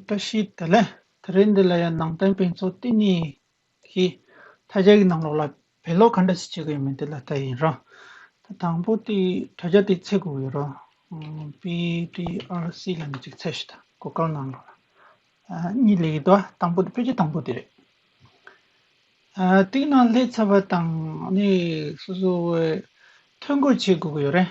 བཀྲ་ཤིས་བདེ་ལེགས། ད་རེས་འདི་ལ་ཡང་ནང་བསྟན་དཔེ་མཚོན་ལྟེ་གནས་ཀྱིས་ད་རྒྱ་ཡི་ནང་ལོགས་ལ་བེད་ལོག་ག་འདྲ་ཞིག་བྱེད་གི་ཡོད་མེད་དེ་ལ་ལྟ་ཡིན་རང། ད་དང་པོ་དེ་ད་རྒྱ་དེ་ཚད་དགོས་ཡོད་རང། PDRC ལ་ནི་ཅིག་ཚད་ཞིག་དང་གོ་སྐབས་གནང་རོགས། གཉིས་ལས་ཡིད་དོ་དང་པོ་དེ་དཔེ་ཆ་དང་པོ་དེ་རེད། དེའི་ནང་ལྷས་ཚ་བ་དང་ནི་སོ་སོའི་ཐོད་འགོད་བྱེད་དགོས་ཀྱི་ཡོད་རེད།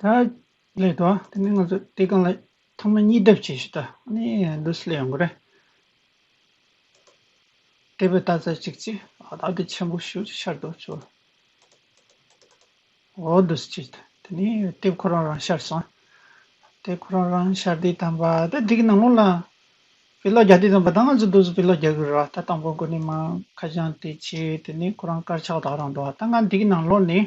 ད་ལས་དོ་དེ་ནི་ང་ཚོ་དེ་གང་ལ་ཐ་མ་གཉིས་སྡེབ་བྱས་ཤིག་ད་ནི་འདི་སླེ་ཡོང་གི་རེད་དེ་བས་ད་ཚ་ཅིག་ཅིག་ཨ་ད་དེ་ཆེན་པོ་ཞུ་ཅིག་ཤར་དུ་བྱོ་འོ་འདི་སུ་ཅིག་དེ་ནི་དེབ་ཁོ་རང་རང་ཤར་སོང་དེབ་ཁོ་རང་རང་ཤར་དེ་དམ་པ་དེ་དེ་གི་ནང་ལོགས་ལ་བི་ལོག་རྒྱག་དེ་དམ་པ་ད་ང་ཚོ་འདུག་ཚོ་བི་ལོག་རྒྱག་གི་རེད་བ་ད་དང་པོ་ཁོ་ནི་མ་ཁ་བྱང་དེ་བྱས་དེ་ནི་ཁོ་རང་དཀར་ཆག་དག་རང་འདུག་བ་ད་ང་འདི་གི་ནང་ལོགས་ནས་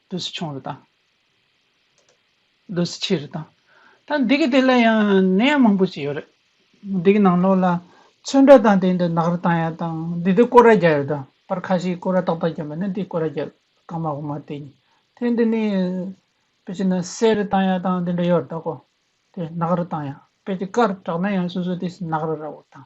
དུ་སུ་ཆུང་རུ་དང། དུ་སུ་ཆེ་རུ་དང། ད་འདི་གི་དེ་ལ་ཡང་ནད་ཡམས་མང་པོ་ཞིག་ཡོད་རེད། འདི་གི་ནང་ལོགས་ལ་ཚོན་འདྲ་དང་དེ་འདྲ་ནག་རུ་དང་ཡང་དང་འདི་དུ་ཀོ་ར་བརྒྱབ་ཡོད་དོ། པར་ཁ་ཞིག་ཀོ་ར་ཏག་ཏག་བརྒྱབ་པ་ནི་འདི་ཀོ་ར་བརྒྱབ་གང་མ་གང་མ་དེ་ཡིན། དེ་འདི་ནི་པེ་ཅིན་ན་སེར་རུ་དང་ཡང་དང་དེ་འདྲ་ཡོད་རེད་ད་ཀོ། དེ་ནག་རུ་དང་ཡང་པེ་ཅིན་དཀར་དྲག་ན་ཡང་སོ་སོ་དེ་ནག་རུ་ར་བོ་དང།